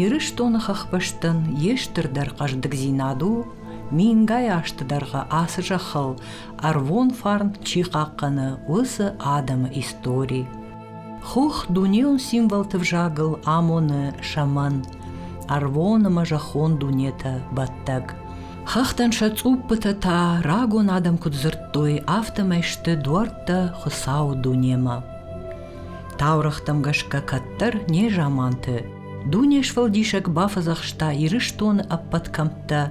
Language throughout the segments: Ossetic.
Ирыстоны хӕхбӕстӕн йе стырдӕр хъӕздыгдзинад у, мингай азты дӕргъы ацы зӕххыл ӕрвон фарн чи хъахъхъӕны, уыцы адӕмы истори. Хух дунеон символты взагыл амоны сӕмӕн ӕрвон ӕмӕ зӕххон дунетӕ бӕттӕг. Хӕхтӕн сӕ цъуппытӕ та рагон адӕм куыд дзырдтой, афтӕмӕй сты дуӕрттӕ Хуыцауы дунемӕ. Таурӕгътӕм гӕсгӕ кӕддӕр незаманты дуне сфӕлдисӕг бафӕдзӕхста Ирыстоны ӕппӕт кӕмттӕ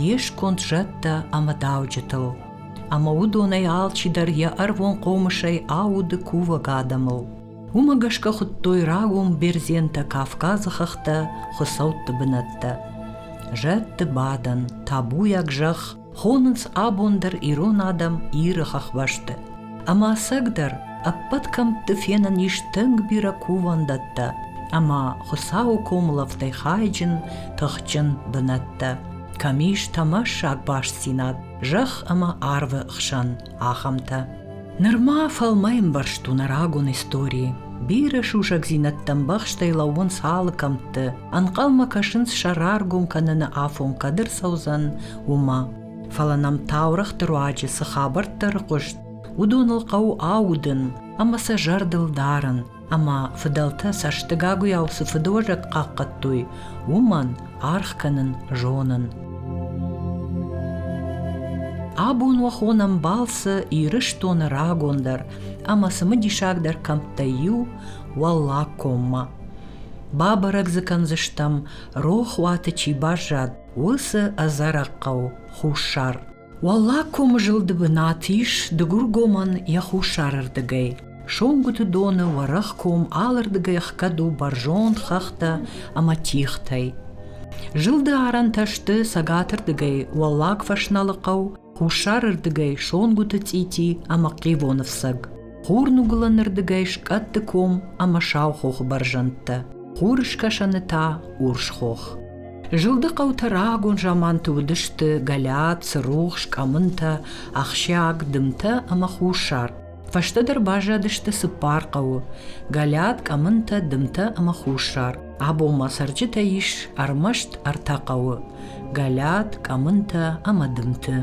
йе сконд зӕдтӕ ӕмӕ дауджытыл, ӕмӕ уыдонӕй алчидӕр йӕ ӕрвон хъомысӕй ауды кувӕг адӕмыл. Уымӕ гӕсгӕ хуыдтой рагон бердзентӕ Кавказы хӕхтӕ, хуыцӕутты бынӕттӕ. Зӕдты бадӕн, табуйаг зӕхх, Хонынц абон дӕр ирон адӕм Иры хӕхбӕсты. Ӕмӕ ӕцӕгдӕр ӕппӕт кӕмтты фенӕн ис тынг бирӕ кувӕндӕттӕ ӕмӕ Хуыцауы комылӕфтӕй хайджын, тыхджын бынӕттӕ, кӕм ис тӕмӕссаг бастдзинад зӕхх ӕмӕ арвы хсӕн. ахӕмтӕ. Нырма фӕлмӕимбӕрзт у нӕ рагон истори. Бирӕ сусӕгдзинӕдтӕ ӕмбӕхстӕй лӕууынц алы кӕмтты, ӕнхъӕлмӕ кӕсынц сӕ раргом кӕныны афон кӕд ӕрцӕудзӕн, уымӕ. Фӕлӕ нӕм таурӕгъты руаджы цы хабӕрттӕ ӕрхъуыст, уыдоныл хъӕуы аудын ӕмӕ сӕ зӕрдыл дарын, ӕмӕ фыдӕлтӕ цӕстыгагуыйау цы фыдуӕзӕг хъахъхъӕдтой, уымӕн аргъ кӕнын зонын. Абон уӕ хонӕм балцы Ирыстоны рагондӕр ӕмӕ цымыдисагдӕр кӕмттӕй иу – Уӕллаг коммӕ. Бабӕрӕг дзы кӕндзыстӕм, рохуаты чи баззад, уыцы ӕдзӕрӕг хъӕу Хуссар. Уӕллагкомы зылды бынат ис Дыгургомӕн йӕ хуссарырдыгӕй. Сонгуыты доны уӕрӕх ком алырдыгӕй ӕхгӕд у бӕрзонд хӕхтӕ ӕмӕ тигътӕй. Зылды арӕнтӕ сты цӕгатырдыгӕй Уӕллаг Фӕсналы хъӕу, хуссарырдыгӕй Сонгуыты цъити ӕмӕ Хъивоны фцӕг. Хурныгуылӕнырдыгӕй скъӕтты ком ӕмӕ сау хохы бӕрзӕндтӕ, хурыскӕсӕны та урс хох. Зылды хъӕутӕ рагон заманты уыдысты гӕлӕт, цырухс, къӕмынтӕ, ахсиаг, дымтӕ ӕмӕ хуссар. Фӕстӕдӕр баззадысты цыппар хъӕуы – гӕлӕт, къӕмынтӕ, дымтӕ ӕмӕ хуссар. Абон ма цӕрджытӕ ис ӕрмӕст ӕртӕ хъӕуы – гӕлӕт, къӕмынтӕ ӕмӕ дымты.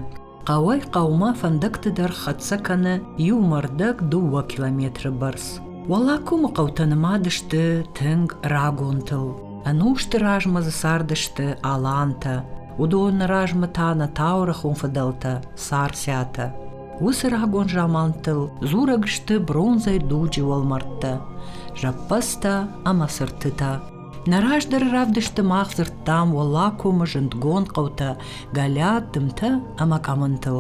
Хъӕуӕй-хъӕумӕ фӕндӕгты дӕр хӕццӕ кӕны иу мӕрдӕг дыууӕ километры бӕрц. Уӕллагкомы хъӕутӕ нымад сты тынг рагонтыл. Ӕнусты размӕ дзы цардысты алантӕ, уыдоны размӕ та нӕ таурӕхон фыдӕлтӕ Сарсӕтӕ. Уыцы рагон замантыл дзурӕг сты бронзӕй дуджы уӕлмӕрдтӕ, зӕппӕдзтӕ ӕмӕ цыртытӕ. Нӕ раздӕры равдысты мах дзырдтам Уӕллагкомы зындгонд хъӕутӕ Галиат, Дымтӕ ӕмӕ Къӕмынтыл.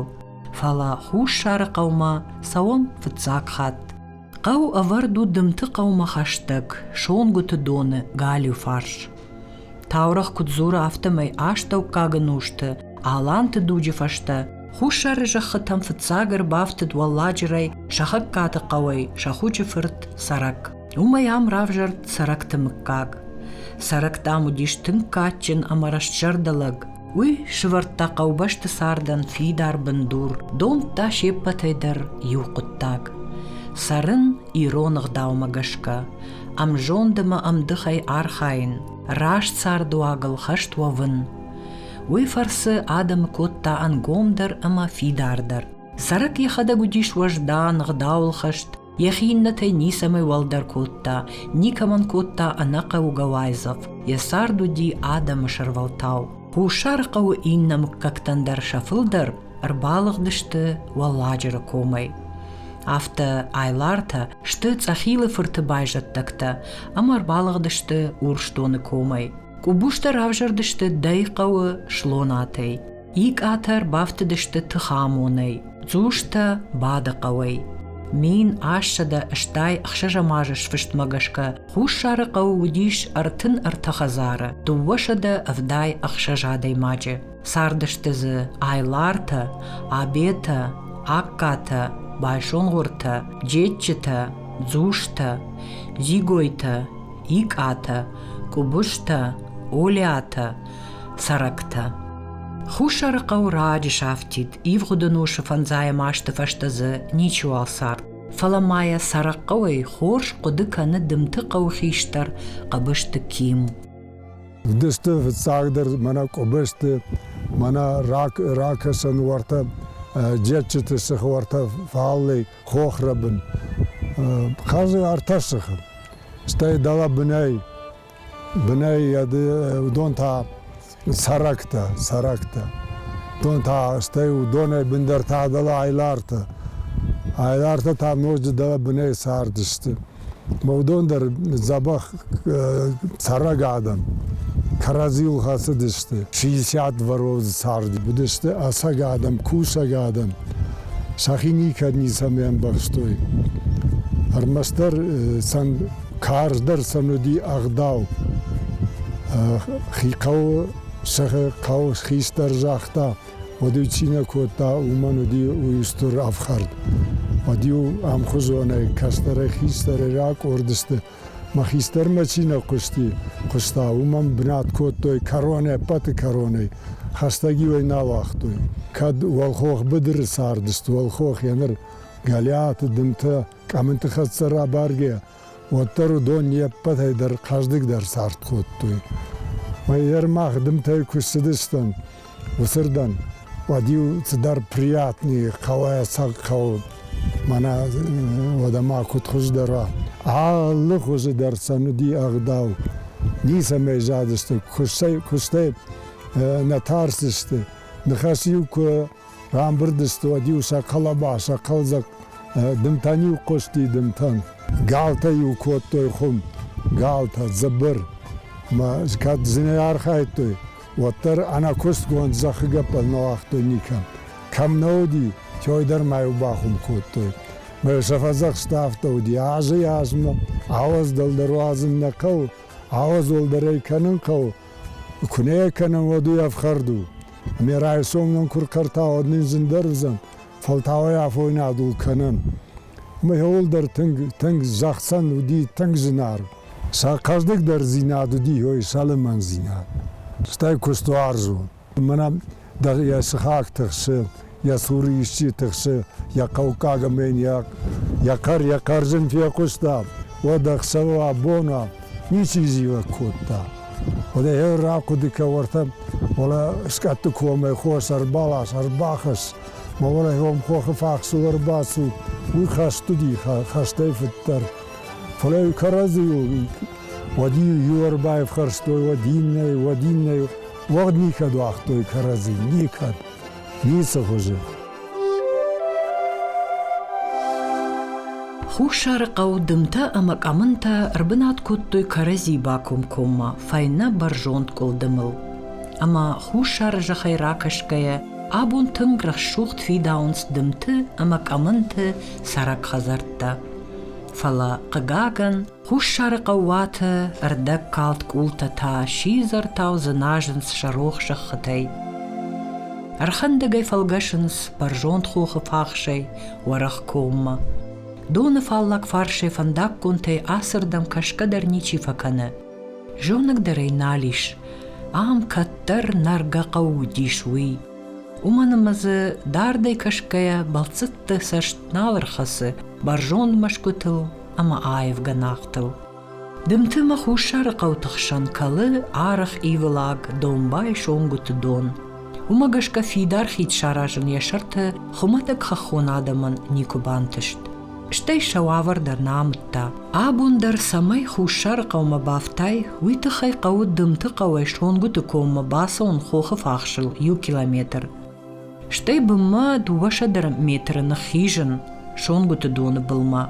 Фӕлӕ Хуссары хъӕумӕ цӕуӕм фыццаг хатт. Хъӕу ӕвӕрд у Дымты хъӕумӕ хӕстӕг, Сонгуыты доны галиу фарс. Таурӕгъ куыд дзуры, афтӕмӕй астӕуккаг ӕнусты Аланты дуджы фӕстӕ Хуссары зӕххытӕм фыццаг ӕрбафтыд уӕлладжырӕй Сӕхӕгкаты хъӕуӕй сӕ хъуджы фырт Цӕрӕг. Уымӕй ам равзӕрд цӕрӕгты мыггаг. Цӕрӕгтӕм уыдис тынг кадджын ӕмӕ рӕстзӕрдӕ лӕг. Уый сывӕрдта хъӕубӕсты цардӕн фидар бындур, домдта се ппӕтӕй дӕр иу хъуыддаг – цӕрын ирон ӕгъдаумӕ гӕсгӕ, ӕмзонд ӕмӕ ӕмдыхӕй архайын, раст цардуагыл хӕст уӕвын. Уый фӕрцы адӕмы кодта ӕнгомдӕр ӕмӕ фидардӕр. Цӕрӕг йӕхӕдӕг уыдис уӕздан, ӕгъдауылхӕст, Ехи иннетӕй ницӕмӕй уӕлдӕр кодта, никӕмӕн кодта ӕнӕхъӕугӕ уайдзӕф, йӕ цард уыди адӕмы сӕрвӕлтау. Хуссары хъӕуы иннӕ мыггӕгтӕн дӕр сӕ фылдӕр ӕрбалыгъдысты Уӕлладжыры комӕй. Афтӕ Айлартӕ сты Цъӕхилы фырты байзӕддӕгтӕ ӕмӕ ӕрбалыгъдысты Урсдоны комӕй. Къубустӕ равзӕрдысты Дӕйы хъӕуы Слонатӕй. Икъатӕр бафтыдысты тыхамонӕй, Дзустӕ бады хъӕуӕй. Мин ассӕдӕ стӕй ӕхсӕзӕмазы сфыстмӕ гӕсгӕ Хуссары хъӕуы уыдис ӕртын ӕртӕ хӕдзары, дыууӕсӕдӕ ӕвдай ӕхсӕз адӕймаджы. Цардысты дзы Айлартӕ, Абетӕ, Аккатӕ, Байсонгъуыртӕ, Джеччытӕ, Дзустӕ, Зигойтӕ, Икъатӕ, Къубустӕ, Олиатӕ, Цӕрӕгтӕ Хуссарыхъӕу раджы сафтид, ивгъуыды носы фӕндзайӕм азты фӕстӕ дзы ничиуал цард. Фӕлӕ ма йӕ цӕрӕгхъӕуӕй хорз хъуыды кӕны Дымты хъӕуы хистӕр Къӕбысты Ким. Дысты фыццагдӕр мӕнӕ Къӕбысты, мӕнӕ рак, ракӕсӕн уартӕ, джетджыты сых уартӕ фаллӕй хохрӕбын. Хъазы ӕртӕ сыхы. Стӕй дӕлӕ бынӕй Бынӕй уыдон та сӕрӕктӕ, сӕрӕктӕ. Уыдон та, стӕй уыдонӕй бындӕр та дӕлӕ айлартӕ. Айлартӕ та ноджы дӕлӕ бынӕй цардысты. Ма уыдон дӕр дзӕбӕх цӕрӕг адӕм кӕрӕдзийыл хӕцыдысты. 60 дворовы царди уыдысты ӕцӕг адӕм, кусӕг адӕм. Сӕхи никӕд ницӕмӕ ӕмбӕхстой. Ӕрмӕстдӕр сӕн Карздӕр сӕм уыди ӕгъдау. Хи хъӕуы, сӕхи хъӕуы хистӕр загъта, уӕд-иу цинӕ кодта, уымӕн уыди уый стыр ӕфхӕрд. Уӕд-иу ӕмхуызонӕй кӕстӕрӕй хистӕрӕй ракъорд сты. Мӕ хистӕрмӕ чи нӕ хъуысти, хъуыста, уымӕн бынат кодтой кӕрон ӕппӕты кӕронӕй, хӕстӕг-иу ӕй нал уагътой. Кӕд уӕлхох быдыры цардысты, уӕлхох еныр, Гӕлиаты, Дымтӕ, Къӕминти хӕццӕ рабаргӕ, уӕддӕр уыдон не ппӕтӕй дӕр хъӕздыгдӕр цард кодтой. Мӕйӕр мах дымтӕй куы ссыдыстӕм уыцырдӕм, уӕд-иу цыдӕр приятные хъӕлӕсаг хъӕуд мӕнӕ уӕдӕ ма куыд хуыздӕра. Алы хуызы дӕр сӕ уыди ӕгъдау. Ницӕмӕй задысты, куыстӕй, куыстӕй нӕ тӕрсысты. Ныхас-иу куы Рамбырд сты уӕд-иу сӕ хъӕлӕба, сӕ хъӕлдзӕг дымтӕн-иу хъуысти дымтӕн. Галтӕ-иу кодтой хуым, галтӕ, дзыбыр. Кӕд зынӕй архайдтой, уӕддӕр ӕнӕкустгонд зӕххы гӕппӕл нӕ уагътой никӕм. Кӕм нӕ уыди, той дӕр ма-иу бахуым кодтой. Сӕ фӕдзӕхста афтӕ уыди, азӕй азмӕ, ауӕдз дӕлдӕр уадзын нӕ хъӕуы, ауӕдз уӕлдӕрӕй кӕнын хъӕуы, Куы нӕ кӕнӕм, уӕд уый ӕфхӕрд у. Ӕмӕ райсом нын куы ркӕрта, уӕд нын зындӕр уыдзӕн, фӕлтауӕй афойнадул кӕнӕм. Ӕмӕ иууыл дӕр тынг, тынг зӕхцӕн уыди тынг зынаргъ. Сӕ хъӕздыгдӕрдзинад уыди ой сӕлӕмӕндзинад. Стӕй куыстуарзон. Мӕнӕ йӕ сыхаг тыхсы, йӕ цуры исчи тыхсы, йӕ хъӕуккаг ӕмӕ йын йӕ, йӕ кӕр йӕ кӕрдзын фехъуыста, уӕд ӕхсӕвы абона ничи зивӕг кодта. Уӕдӕ йӕ рахъуыды кӕ уӕртӕ, уӕлӕ скъӕтты комӕй хос ӕрбалас, ӕрбахӕсс, ма уӕлӕ йӕм хохы фахсыл ӕрбацу, уый хӕст уыди, хӕстӕй фыддӕр. Фӕлӕ кӕрӕдзийыл уӕд иу ӕрбайфхӕрстой, уӕд иннӕ, уӕд иннӕ, Уӕгъд никӕд уагътой кӕрӕдзи, никӕд, ницы хуызы. Хуссарыхъӕу дымтӕ ӕмӕ къӕмынтӕ ӕрбынат кодтой кӕрӕдзи бакомкоммӕ фӕйнӕ бӕрзонд къуылдымыл. Ӕмӕ хуссары зӕхӕй ракӕсгӕйӕ, абон тынг рӕсугъд фидауынц дымты ӕмӕ къӕмынты цӕрӕг хӕдзӕрттӕ. Фӕлӕ, хъыгагӕн, Хуссарыхъӕу уаты ӕрдӕгкалд къултӕ та сидзӕртау дзыназынц сӕ рох зӕххытӕй. Ӕрхӕндӕгӕй фӕлгӕсынц бӕрзонд хохы фахсӕй уӕрӕх коммӕ. Доны фаллаг фарсӕй фӕндаггонтӕй ацырдӕм кӕсгӕ дӕр ничи фӕкӕны. Зонӕг дӕр ӕй нал ис. Ам кӕддӕр нӕргӕ хъӕу уыдис уый. Уымӕн ӕмӕ дзы дардӕй кӕсгӕйӕ бӕлццӕтты цӕст нал ӕрхӕцы бӕрзонд мӕсгуытыл ӕмӕ аив гӕнахтыл. Дымты мӕ Хуссары хъӕуты хсӕн кӕлы арых ивылаг домбай сонгуыты дон. Уымӕ гӕсгӕ фидар хид саразын йӕ сӕрты хуымӕтӕг хӕххон адӕмӕн никуы бантыст. Стӕй сӕ уавӕр дӕр нӕ амыдта. Абон дӕр цӕмӕй Хуссары хъӕумӕ бафтай, уый тыххӕй хъӕуы Дымты хъӕуӕй Сонгуыты коммӕ бацӕуын хохы фахсыл иу километр. Стӕй бынмӕ дыууӕсӕдӕ метры ныххизын Сонгуыты доны былмӕ.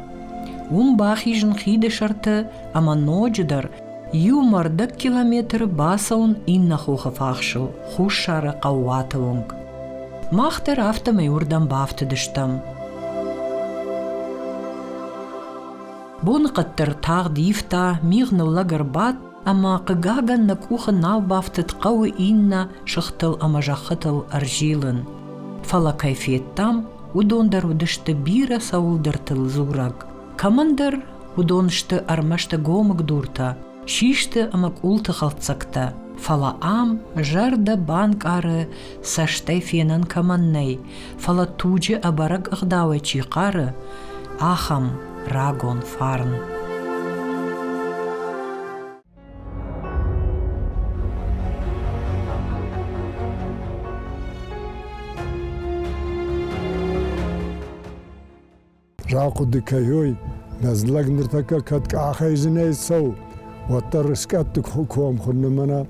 Уым бахизын хиды сӕрты ӕмӕ ноджыдӕр иу мӕрдӕг километры бацӕуын иннӕ хохы фахсыл, хуссары хъӕууаты онг. Мах дӕр афтӕмӕй уырдӕм бафтыдыстӕм. Боныхъӕд дӕр тагъд ивта, мигъ ныллӕг ӕрбадт Ӕмӕ, хъыгагӕн, нӕ къухы нал бафтыд хъӕуы иннӕ сыхтыл ӕмӕ зӕххытыл ӕрзилын, фӕлӕ кӕй федтам, уыдон дӕр уыдысты бирӕ цӕуылдӕртыл дзурӕг. Кӕмӕндӕр уыдон сты ӕрмӕст гомыгдуртӕ, систы ӕмӕ къулты хӕлддзӕгтӕ, фӕлӕ ам зӕрдӕ банкъары цӕстӕй фенӕн кӕмӕн нӕй, фӕлӕ туджы ӕбӕрӕг ӕгъдауӕй чи хъары, ахӕм рагон фарн. Рахъуыды кӕной, нӕ лӕг ныртӕккӕ кӕд къахӕйдзынӕй цӕуы, уӕддӕр скъӕтты комхуыр нымӕна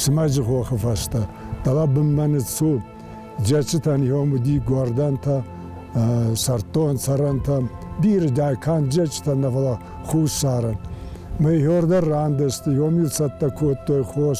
смӕджы хохы фӕстӕ. Дӕлӕ бынмӕ ныццу. Джечетӕн йом уыди гуардантӕ, сӕрдтон цӕрӕнтӕм, биры дӕкан джечетӕн нӕ фӕлӕ хуссарӕн. Мы йордӕр рандысты, йом-иу цӕттӕ кодтой хос,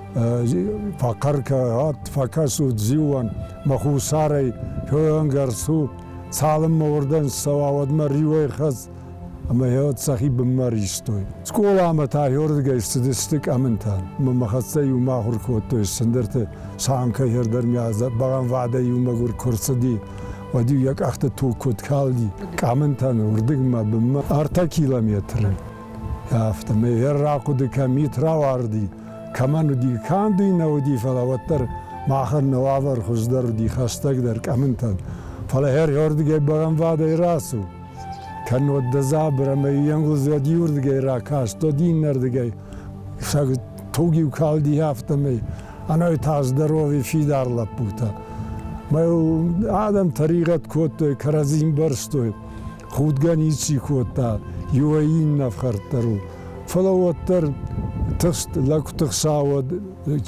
фӕхъӕркӕ ад фӕкӕсут зиуӕн, мӕ хуссарӕй феуӕнгард цут, цалынмӕ уырдӕм цӕуа, уӕдмӕ риуӕй хӕц ӕмӕ йӕ сӕхи бынмӕ ристой. Скъоламӕ та иуырдыгӕй ссыдысты къӕмынтӕ. Мӕ хӕццӕ иумӕ ахуыр кодтой сындырты самкӕйӕ дӕр миӕ бӕгъӕмвадӕй иумӕ гуыр куы рцыди, уӕд-иу йӕ къӕхты туг куыд калди къӕмынтӕн уырдыгмӕ бынмӕ ӕртӕ километры. Афтӕ мӕ йӕ рахъуыды кӕм ит рауарди, кӕмӕн уыди, канд уый нӕ уыди, фӕлӕ уӕддӕр махӕн нӕ уавӕр хуыздӕр уыди, хӕстӕгдӕр, къӕмынтӕн. Фӕлӕ хӕрхӕрдыгӕй бӕгӕнвӕдӕй рацу. Кӕннод дӕ дзабыр ӕмӕ иенгуылдз уӕд иуырдыгӕй ракаст, уӕд иннӕрдыгӕй сӕ туг-иу калди афтӕмӕй. Ӕнӕ та здоровый фидар лӕппутӕ. Мӕ адӕм тӕригъӕд кодтой, кӕрӕдзин бӕрстой. худгӕ ничи кодта, иуӕй иннӕ фхӕрддӕр у. Фӕлӕ уӕддӕр тыхст, лӕгты хца уӕд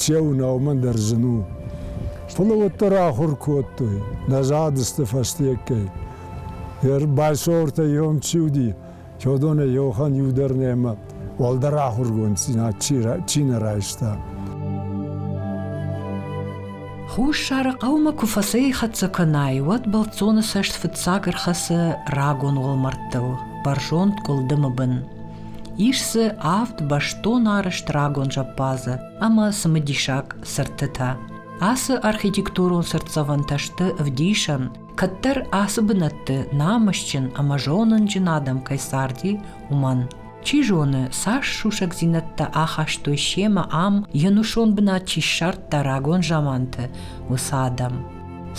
че у нӕ, уымӕн дӕр зын у. Фӕлӕ уӕддӕр ахуыр кодтой нӕ задысты фӕстеггӕй. Байсортӕ ем чи уыди, Чодонӕ Йохан иу дӕр нӕма уӕлдӕр ахургонддзинад чи нӕ райста. Хуссары хъӕумӕ куы фӕцӕйхӕццӕ кӕнай, уӕд бӕлццоны цӕст фыццаг ӕрхӕцы рагон уӕлмӕрдтыл, бӕрзонд къуылдымы бын. Ис дзы авд бӕстон арӕзт рагон зӕппадзы ӕмӕ цымыдисаг цыртытӕ. Ацы архитектурон цыртдзӕвӕнтӕ сты ӕвдисӕн, кӕддӕр ацы бынӕтты намысджын ӕмӕ зонынджын адӕм кӕй царди, уымӕн. Чи зоны, цас сусӕгдзинӕдтӕ ахастой семӕ ам, йе нусон бынат чи ссардта рагон заманты, уыцы адӕм.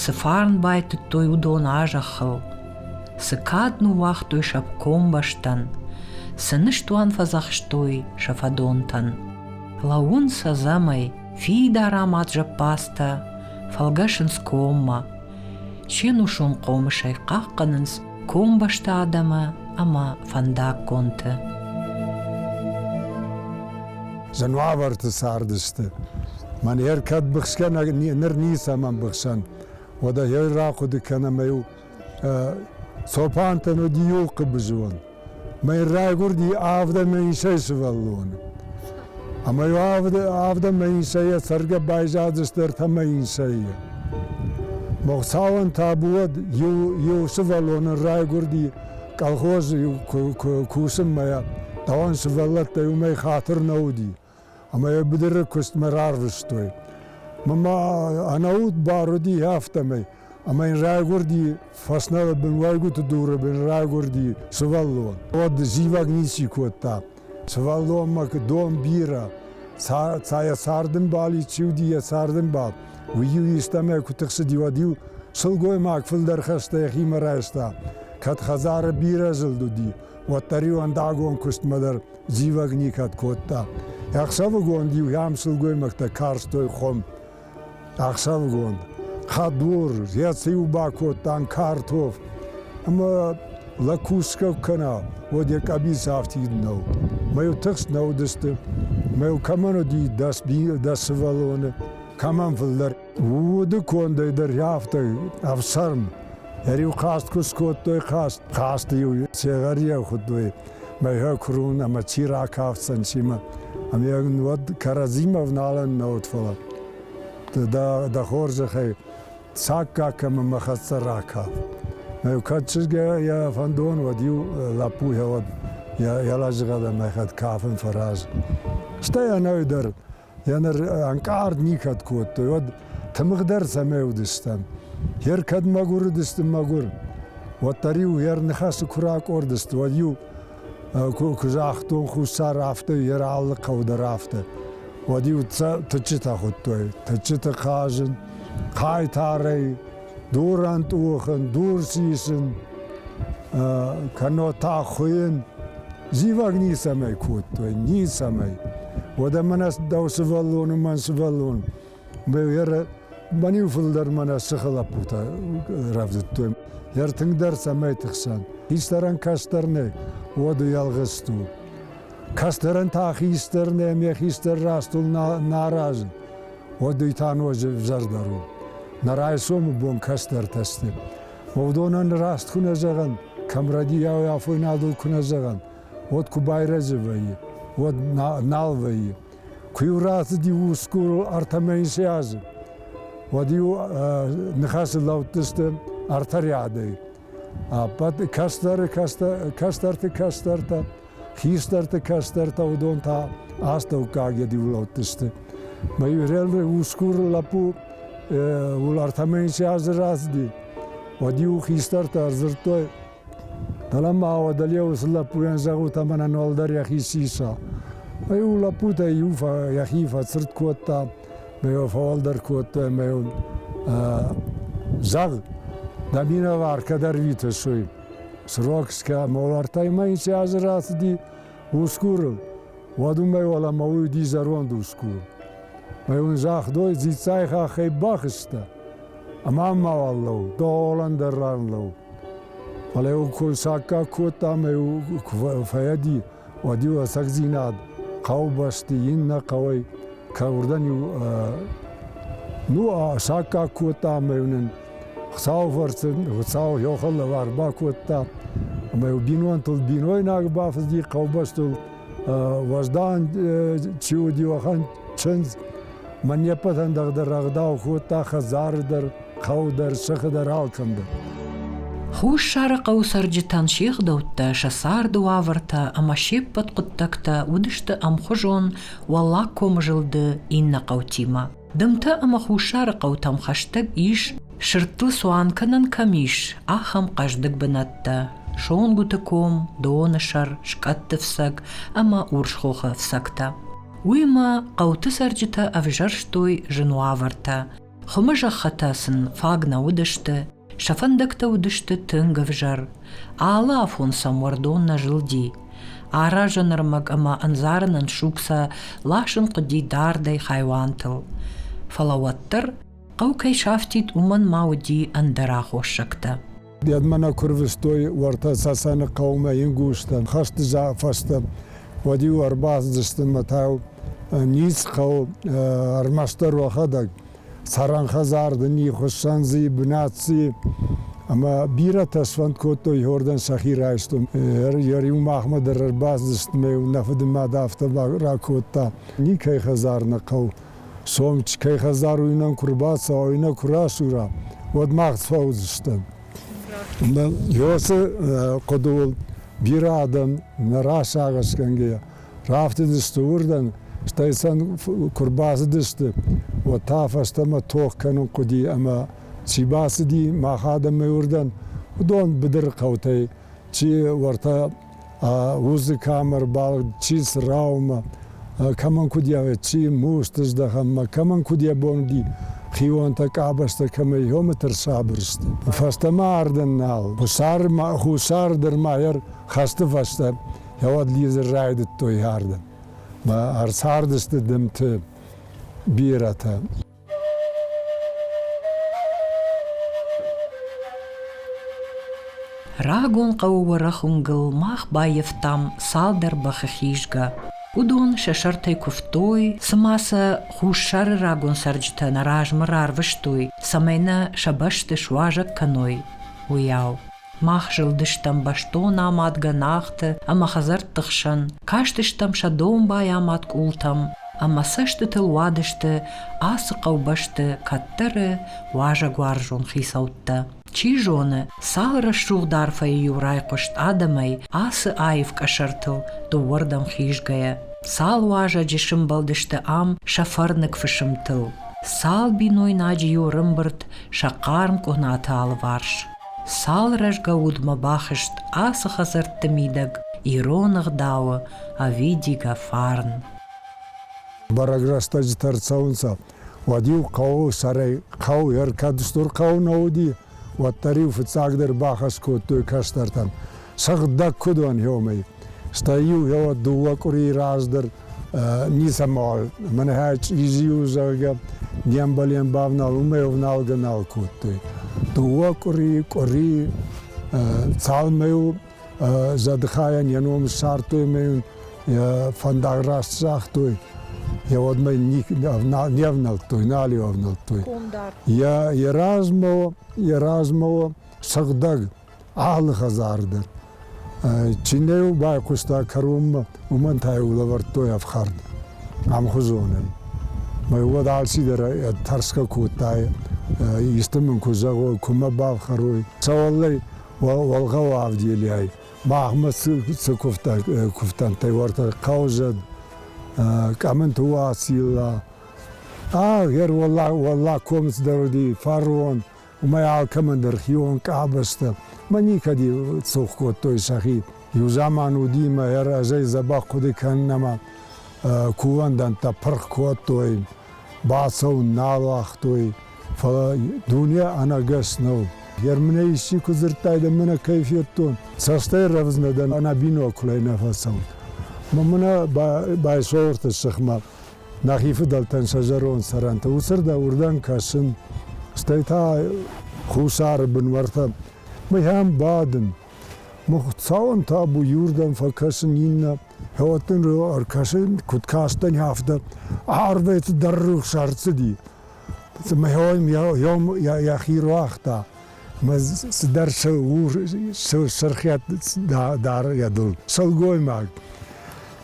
Цы фарн байтыдтой уыдон а-зӕххыл, цы кад ныууагътой сӕ комбӕстӕн, цы ныстуан фӕдзӕхстой сӕ фӕдонтӕн. Лӕууын сӕ зӕмӕй, фидар амад зӕппадзтӕ, фӕлгӕсынц коммӕ, се нусон хъомысӕй хъахъхъӕнынц комбӕсты адӕмы ӕмӕ фӕндаггонты. Зын уавӕрты цардысты. Мӕн йӕ кӕд быхсгӕ ныр ницӕмӕн быхсӕн. Уӕдӕ йӕ рахъуыды кӕнӕм ӕй цопантӕн уыди иу хъыбызон. Мӕ райгурди авдӕмӕ инсӕй сувӕллон. Ӕма еу авдӕмӕ инсӕй ӕ цӕргӕ байзадзӕстӕртӕмӕ инсӕй. Мохцауӕн табуӕд еу сувӕллонӕн райгурди колхоз кусунмӕ, дауӕн сувӕллӕттӕй умӕй хатир нӕ уди. ӕмӕ йӕ быдыры куыстмӕ рарвыстой. Мамӕ ӕнӕуд бар уыди афтӕмӕй, ӕмӕ йын райгуырди фӕснӕлы бын уӕйгуыты дуры бын райгуырди сывӕллон. Уӕд зивӕг ници кодта. Сывӕллонмӕ дон бирӕ. Ца йӕ цардымбал чи уыди, йӕ цардымбал. Уый-иу истӕмӕй куы тыхсыди, уӕд-иу сылгоймаг фылдӕр хӕстӕ йӕхимӕ райста. Кӕд хӕдзары бирӕ зылд уыди, уӕддӕр-иу ӕндагон куыстмӕ дӕр зивӕг никӕд кодта. Ӕхсӕвыгон-иу ӕм сылгоймӕгтӕ карстой хуым. Ӕхсӕвыгон хӕдбур, еци-иу бакодтан картоф, ӕма лӕг кусгӕ кӕна, уӕд йӕ къӕбиц афтид нӕу. Мӕ-иу тыхст нӕ уыдысты, мӕ-иу кӕмӕн уыди дӕс, дӕс сывӕллоны, кӕмӕн фылдӕр. Уды кондӕй дӕр рафтой ӕфсарм. Ӕриу хаст куы скодтой хаст. Хасты-иу сегӕр хуыдтой мӕйгӕ курун ӕмӕ чи ракафдзӕн симӕ. Ами уӕд кӕрӕдзимӕ вналӕн науд фӕлӕ. Да, да хорзӕхӕй саккаг кӕмӕ мӕ хӕццӕ ракаф. Мӕ кӕд чызгӕ йӕ фӕндон уӕд-иу лӕппу йӕ уӕд йӕ лӕжыгъӕд ӕмӕ хӕд кафын фӕраз. Стӕй ӕнӕ дӕр Е ныр ӕнкъард никӕд кодтой, уӕд тымыгъдӕр цӕмӕй уыдыстӕм. Ер кӕд мӕгуыр уыдысты мӕгуыр, уӕддӕр-иу ер ныхасы куы ракъордысты, уӕд-иу куы загътон хуссар афтӕ, ер алы хъӕу дӕр афтӕ. Уӕд-иу тыччытӕ хуыдтой, тыччыты хъазын, хъайтарӕй, дурӕн тъухын, дур сисын, кӕннод та хуыйын. Зивӕг ницӕмӕй кодтой, ницӕмӕй. Уӕдӕ мӕнӕ дӕу сывӕллон и мӕн сывӕллон. Бӕниу фылдӕр мӕнӕ сыхы лӕппутӕ рӕвдыдтой. Йӕ ртынгдӕр цӕмӕй тыхсӕн. Хистӕрӕн кӕстӕр нӕй, уӕд уӕлгъыст у. Кӕстӕрӕн та хистӕр нӕ, ме хистӕр растыл наразы. Уӕд уый та ноджы зӕрдӕр у. Нӕ райсомы бон кӕстӕртӕ сты. уодонӕн раст ку нӕ зӕгъӕн, кӕм радиойы афойнадыл куы нӕ зӕгъӕн, уӕд куы байрӕзы вӕййы, уӕд нал вӕййы. Куы-иу рацыди усгурыл артӕмӕ цы азы, уӕд-иу ныхасы лӕудтысты артариадӕй. Ӕппӕт кӕстӕры кӕстӕрты кӕстӕртӕ Хистӕрты кӕстӕртӕ уыдон та астӕуккаг йӕ диулӕудтысты. Мӕ Юрелы усгур лӕппу Улартамӕн се азы рацыди. Уӕд-иу хистӕртӕ ӕрдзырдтой, Фӕлӕ ма уӕдӕ уыцы лӕппуйӕн зӕгъут ӕмӕ нӕ уӕлдӕр йӕхи сиса. Ӕй-иу лӕппутӕ иу йӕхи фӕцырд кодта, мӕ йыл фӕуӕлдӕр кодтой, мӕ йыл зӕгъ, дӕ минӕвар кӕдӕр витыс, уый. Срокская молартӕй ма инсӕй азы рацыди усгурыл, уӕд уымӕй уӕлӕмӕ уйди зӕронд усгур. Ӕй ун загътой, дзиццай хаххӕй бахызта, ӕма мауал лӕу, дооlan дӕр ран лӕу. Фале ун кун саккаг кодта ӕма куы фӕйӕди, уӕди уасӕгдзийнад хъаубӕсти ин нӕ хъӕуӕй ка уордӕн-еу ну саккаг кодта ӕма еу нин Хуцауи фӕрци Хуцау ехал лӕвар бакодта ӕма еу бинонтыл бийнойнаг бафӕзди хъаубӕстыл уӕздан чи уыди уӕхӕн чындз ма не ппӕтӕн дӕр дӕр ӕгъдау кодта хӕдзары дӕр хъӕу дӕр, сыхы дӕр, алкӕм дӕр. Хуссары хъӕуы цӕрджытӕн се гъдӕуттӕ, сӕ царды уавӕртӕ ӕмӕ се ппӕт хъуыддӕгтӕ уыдысты ӕмхуызон Уӕллаг комы зылды иннӕ хъӕутимӕ. Дымтӕ ӕмӕ хуссары хъӕутӕм хӕстӕг ис, сырдтыл цуан кӕнӕн кӕм ис, ахӕм хъӕздыг бынӕттӕ Сонгуыты ком, Доны сӕр, Скъӕтты фцӕг ӕмӕ Урсхохы фцӕгтӕ. Уый ма хъӕуты цӕрджытӕ ӕвзӕрстой зын уавӕртӕ, Хуымы зӕххытӕ сын фаг нӕ уыдысты, сӕ фӕндӕгтӕ уыдысты тынг ӕвзӕр. Алы афон сӕм уӕрдон нӕ зылди. Аразӕн ӕрмӕг ӕмӕ ӕндзарынӕн суг сӕ ласын хъуыди дардӕй хайуантыл. Фӕлӕ уӕддӕр хъӕу кӕй сафтид, уымӕн ма уыди ӕндӕр аххоссӕгтӕ. Ядмӕ нӕ курвыстой уӕртӕ Цӕцӕны хъӕумӕ ингустӕн. Хӕсты фӕстӕ уӕд-иу ӕрбацыдысты мӕ та ниц хъӕу ӕрмӕстдӕр уӕхӕдӕг. Цӕрӕн хӕдзар дын и, хуыссӕн дзы и, бынат дзы и. Ӕмӕ бирӕтӕ сфӕнд кодтой иуӕрдӕм сӕхи райстон. Ӕр-иу махмӕ дӕр ӕрбацыдысты мӕ нӕ фыдымад афтӕ ракодта. Никӕй хӕдзар нӕ хъӕу Сомичкӕй хӕдзаруйнаг куы рбацӕуа, уый нӕ куы расура, уӕд мах фӕуыдзыстӕм. Ӕмӕ Иосы хъуыдыуыл бирӕ адӕм, нӕ расагъӕсгӕнгӕйӕ, рафтыдысты уырдӕм, стӕй сӕм куы рбацыдысты, уӕд та фӕстӕмӕ тох кӕнын хъуыди ӕмӕ чи бацыди мах адӕмӕй уырдӕм, уыдон быдыры хъӕутӕй, чи уӕртӕ уыцы камӕрбӕлд чи сраумӕ, кӕмӕн куыд яве, чи мусты здӕхӕммӕ, кӕмӕн куыд йӕ бон уыди хионтӕ, къабӕзтӕ кӕмӕй ёмӕ тӕрсабыр сты. Фӕстӕмӕ ардӕн нал. Хуссар, хуссар дӕр ма йӕ хӕсты фӕстӕ йӕуӕд лидзын райдыдтой ардӕм. Ӕрцардысты дымты бирӕтӕ. Рагон хъӕуы уӕрӕх уынгыл мах баййӕфтам цалдӕр бӕхы хизгӕ. Уыдон сӕ сӕртӕй куывтой, цыма сӕ хуссары рагон цӕрджытӕ нӕ размӕ рарвыстой, цӕмӕй нӕ сӕ бӕсты суазӕг кӕной, уыйау. Мах зылдыстӕм бӕстон амад гӕнахты ӕмӕ хӕдзӕртты хсӕн, кастыстӕм сӕ домбай амад къултӕм ӕмӕ цӕстытыл уадысты ацы хъӕубӕсты кӕддӕры уазӕгуарзон хицӕуттӕ. Чи зоны, цал рӕсугъд арфӕйы-иу райхъуыст адӕмӕй ацы аив къӕсӕртыл дыууӕрдӕм хизгӕйӕ. Цал уазӕджы сымбӕлдысты ам сӕ фӕрныг фысымтыл, цал бинойнаджы-иу рымбырд сӕ хъарм къуынаты алыварс. Цал рӕзгӕ удмӕ бахызт ацы хӕдзӕртты мидӕг ирон ӕгъдауы ӕвидигӕ фарн. Бӕрӕг рӕстӕджытӕ ӕрцӕуынцӕ. Уӕд-иу хъӕуы сӕрӕй хъӕу ӕркӕд стыр хъӕу нӕ уыди, уӕддӕр-иу фыццагдӕр бахӕс кодтой кӕстӕртӕн, сыгъдӕг куыд уӕн, уомӕй. Стӕй-иу йӕ дыууӕ къуырийы раздӕр ницӕмӕуал, мӕнӕ чъизи-иу, зӕгъгӕ, не мбалӕн бавнал, уымӕй ӕвналгӕ нал кодтой. Дыууӕ къуыри, къуыри цалмӕ-иу зӕдыхайӕн йӕ ном ссардтой ӕмӕ йын йӕ фӕндаг раст загътой. Йӕ уӕдмӕ не ӕвнӕлдтой, нал-иу ӕвнӕлдтой. Йӕ размӕ, йӕ размӕ сыгъдӕг алы хӕдзары дӕр. Чи нӕ йыл байхъуыста кӕронмӕ, уымӕн та-иу лӕвӕрдтой ӕфхӕрд ӕмхуызонӕй. Мӕ уӕд алцидӕр тӕрсгӕ кодта, исты мын куы зӕгъой, куы мӕ бафхӕрой. Сӕуӕллӕй Волгъау Авделӕй махмӕ цы куывтӕнтӕй уартӕ хъаузӕд, Къӕмынты Уацилла, а, гӕр Уӕллагкомец дӕр уыди, фарон, уымӕй алкӕмӕн дӕр хион къабӕзтӕ мӕ никӕди цух кодтой сӕхи. Иу заман уди мӕ разӕй дзӕбӕх хъуыды кӕнынмӕ кувӕндӕнттӕ пырх кодтой, бацӕуын нал уагътой, фӕлӕ дуне ӕнӕгас нӕу. Германӕй исчи куы дзырдтай, да мӕнӕ кӕй федтон, цӕстӕй рӕвдзынӕ дӕн, ӕнӕ бинонкулӕй нӕ фӕцӕут. Мӕ мынӕ байсолгъыты сыхмӕ нӕхи фыдӕлтӕн сӕ зӕронд цӕрӕнтӕ уыцырдӕм уырдӕм кӕсын, стӕй та хуссары бынвӕртӕ мыйӕм бадын. Мыхуыцауӕн табу иуырдӕм фӕкӕсын, иннӕ хӕвӕтт нын ӕркӕсын, куыд кастӕн, афтӕ. Арвӕй цыдӕр рухс ӕрцыди. Мыхуын йӕхи руагъта. цыдӕр сырхиат дары йӕ дыл сылгоймаг.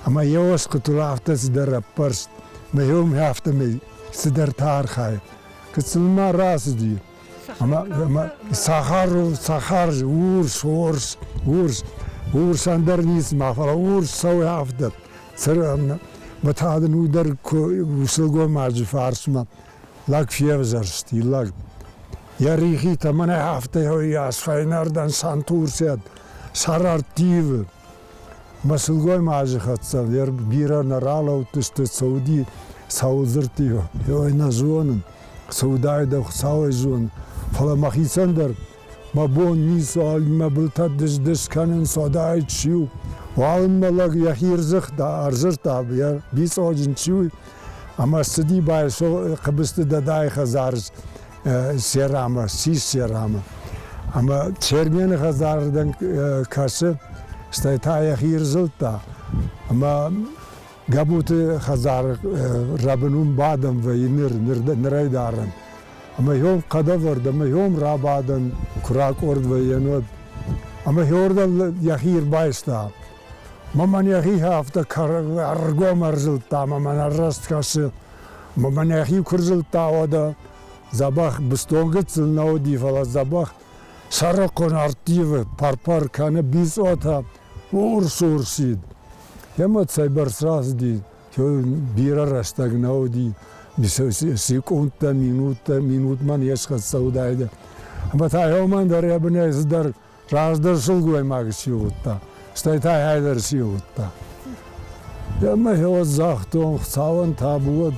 Ӕмӕ йӕ оскъуытыл афтӕ цыдӕр ӕппӕрст, мӕ йомӕ афтӕмӕй цыдӕртӕ архайы. Куыд сыл ма рацыди, ӕмӕ сахар, сахар, урс, орс, урс, урс ӕндӕр ницы ма фӕлӕ урс цӕуы афтӕ. Цыран, мӕ та дын уый дӕр сылгоймаджы фарсмӕ Лӕг февзӕрст, и лӕг. Йӕ рихитӕ мӕнӕ афтӕ йас фӕйнӕрдӕн Сантурсиат, Сарартивы. Мӕ сылгоймаджы хӕццӕ дӕр бирӕ нӕ ралӕудтысты цы уыди, цауы дзырдтӕ. Ой, нӕ зонын, цы уыдаид, ӕй хуыцауӕй зонын. Фӕлӕ мӕхицӕн дӕр ба бонниз алимӕ бултӕ дис-дис кӕнун содӕй чи у. Уалынмӕ лӕг йӕхи рдзыхта, ӕрзырдта, йӕ бицоджын чи у, ӕмӕ ссыди байсо хъыбысты дадайы хӕдзары серамы, сис серамы. Ӕмӕ Чермены хӕдзарырдӕм кӕсы, стӕй та йӕхи рзылдта. Ӕмӕ Гӕбуты хӕдзары рӕбын уым бадӕм вӕййы ныр, ныр, нырӕй дарӕм. ӕма еон хъӕдӕвӕрд ӕма еон рабадӕн ку ракъорд вӕййӕн, уӕд. Ӕма еуордӕм йӕхи ӕрбайста. Мамӕн йӕхи афтӕ ӕргом ӕрзылдта, мамӕн ӕрраст кӕсы. Мамӕн йӕхи куы рзылдта, уӕдӕ дзӕбӕх быстонгыцыл нӕ уыди, фӕлӕ дзӕбӕх сӕрыхъуын ӕрттивы пӕр-пӕр кӕны бицъотӕ урс-урсид. Йемӕ цӕйбӕрц рацыди, бирӕ рӕстӕг нӕ уыди, секундтӕ, минуттӕ, минутмӕ не схӕццӕ уыдаидӕ. Ӕмӕ та еумӕн дӕр йӕ бынӕй цыдӕр раздӕр сылгоймаг сивылдта, стӕй та йӕ дӕр сивылдта. Ӕмӕ йӕ загътон, Хуыцауӕн табу уӕд.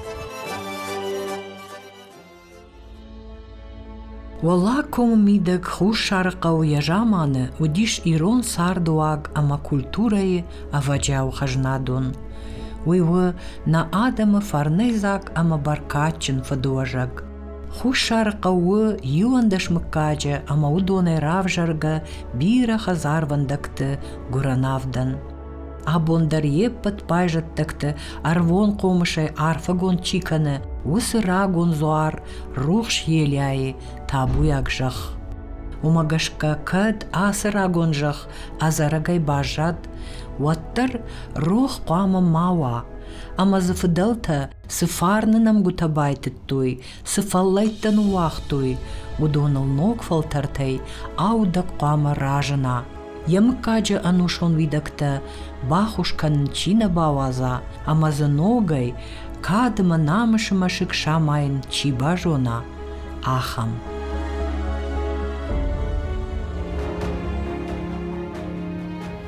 Уӕлӕ комы мидӕг Хуссарыхъӕуы йӕ заманы уыдис ирон цардыуаг ӕмӕ культурӕйы ӕвӕджиау хӕзнадон. Уый у нӕ адӕмы фӕрныдзаг ӕмӕ бӕркадджын фыдуӕзӕг. Хуссарыхъӕу у иуӕндӕс мыггаджы ӕмӕ уыдонӕй равзӕргӕ бирӕ хӕдзарвӕндӕгты гуырӕн авдӕн. Абон дӕр йе ппӕт байзӕддӕгты ӕрвон хъомысӕй арфӕгонд чи кӕны, уыцы рагон дзуар рухс елӕйы табуйаг зӕхх. Уымӕ гӕсгӕ кӕд ацы рагон зӕхх ӕдзӕрӕгӕй баззад, уӕддӕр рох хъуамӕ ма уа, ӕмӕ дзы фыдӕлтӕ цы фарны нӕмгуытӕ байтыдтой, цы фӕллӕйттӕ ныууагътой, уыдоныл ног фӕлтӕртӕй аудӕг хъуамӕ разына. Йӕ мыггаджы ӕнусон уидӕгтӕ баххуыс кӕнын чи нӕ бауадза, ӕмӕ дзы ногӕй, кад ӕмӕ намысы мӕсыг самайын чи базона, ахӕм.